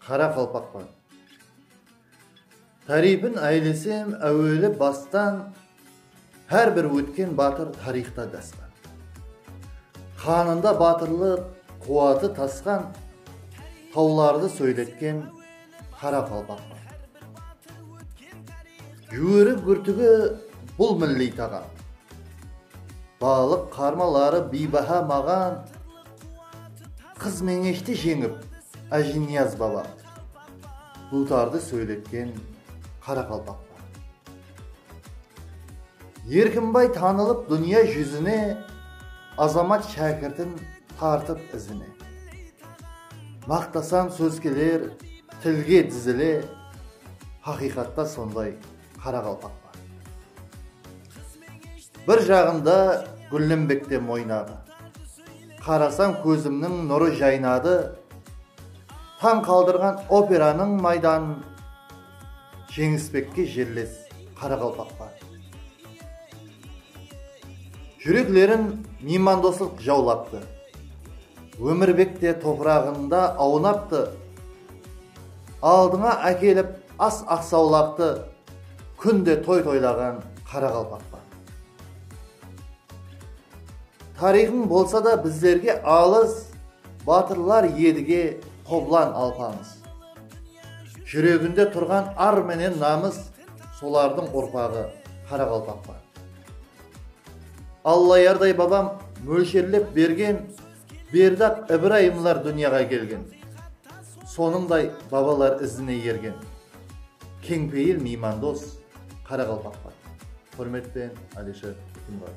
Qara qalpaqpan. Tariypin aylesem áweli bastan hár bir ótken batır tariyxta dasqan. Qanında batırlıq quwatı tasqan tawlardı sóyletken qara qalpaqpan. Júweri gúrtigi bul milliy taǵam. Balıq qarmaları biybaha maǵan. Qız Meńeshti jeńip, Ájiniyaz baba duwtardı sóyletken qaraqalpaq pa? Erkimbay tanılıp dúnya júzine, Azamat shákirtin tartıp izine. Maqtasam sóz keler tilge dizile, Haqıyqatta sonday qaraqalpaq bar. Bir jaǵında gúllembekte moynadı. Qarasań kózimniń nurı jaynadı, Tań qaldırǵan operanıń maydanın jeńispekke jerles qaraqalpaq bar. Júreklerin miymandoslıq jawlaptı. Ómirbek te topıraǵında awnaptı, Aldıńa ákelip As aqsawlaqtı kúnde toy toylaǵan qaraqalpaqpa. Tariyxıń bolsa da bizlerge alıs batırlar edige qoblan alpamıs. Júreginde turǵan ar menen namıs solardıń urpaǵı qaraqalpaqpa. Allayarday babam mólsherlep bergen Berdi-aq Ibrayımlar dúnyaǵa kelgen, Sonıńday babalar izine ergen. Keńpeyil miymandos qaraqalpaqlar. Húrmetpen Alisher Túkimbaev.